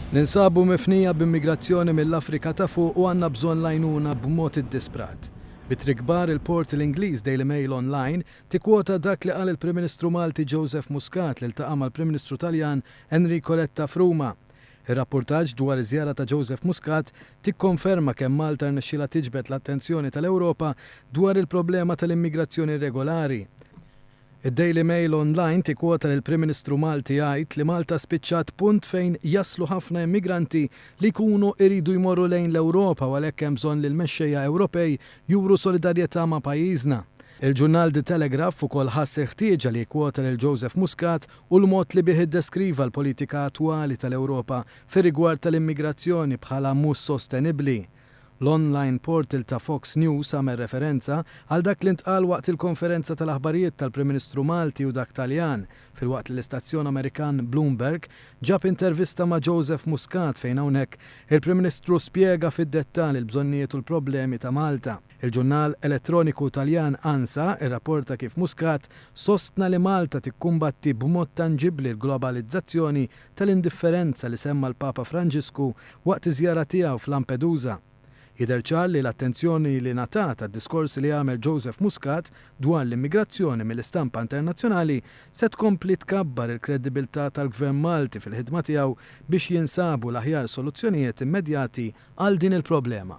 Ninsabu mifnija b'immigrazzjoni mill-Afrika ta' Fuq u għandna bżonn l-għajnuna b'mod iddisprat. Bi triq kbar, il-portal Ingliż DailyMail Online tikkwota dak li qal il-Prim Ministru Malti Joseph Muscat li ltaqa' mal-Prim Ministru Taljan Enrico Letta f'Ruma. Ir-rappurtaġġ dwar iż-żjara ta' Joseph Muscat tikkonferma kemm Malta rnexxielha tiġbed l-attenzjoni tal-Ewropa dwar il-problema tal-immigrazzjoni irregolari, Id-Daily Mail Online tikkwota lill-Prim Ministru Malti jgħid li Malta spiċċat punt fejn jaslu ħafna immigranti li jkunu jridu jmorru lejn l-Ewropa u għalhekk hemm bżonn li l-mexxejja Ewropej juru solidarjetà ma' pajjiżna. Il-ġurnal The Telegraph ukoll ħass il-ħtieġa li jikkwota lil Joseph Muscat u l-mod li bih iddeskriva l-politika attwali tal-Ewropa fir-rigward tal-immigrazzjoni bħala mhux sostenibbli. L-online portal ta' Fox News għamel referenza għal dak li ntqal waqt il-konferenza tal-aħbarijiet tal-Prim Ministru Malti u dak Taljan, filwaqt li l-istazzjon Amerikan Bloomberg ġab intervista ma' Joseph Muscat fejn hawnhekk il-Prim Ministru spjega fid-dettall il-bżonnijiet u l-problemi ta' Malta. Il-ġurnal elettroniku Taljan Ansa rrapporta kif Muscat sostna li Malta tikkumbatti b'mod tanġibbli l-globalizzazzjoni tal-indifferenza li semma l-Papa Franġisku waqt iż-żjara tiegħu f'Lampedusa. Jidher ċar li l-attenzjoni li ngħatat għad-diskorsi li għamel Joseph Muscat dwar l-immigrazzjoni mill-istampa internazzjonali se tkompli tkabbar il-kreddibilità tal-Gvern Malti fil-ħidma tiegħu biex jinsabu l-aħjar soluzzjonijiet immedjati għal din il-problema.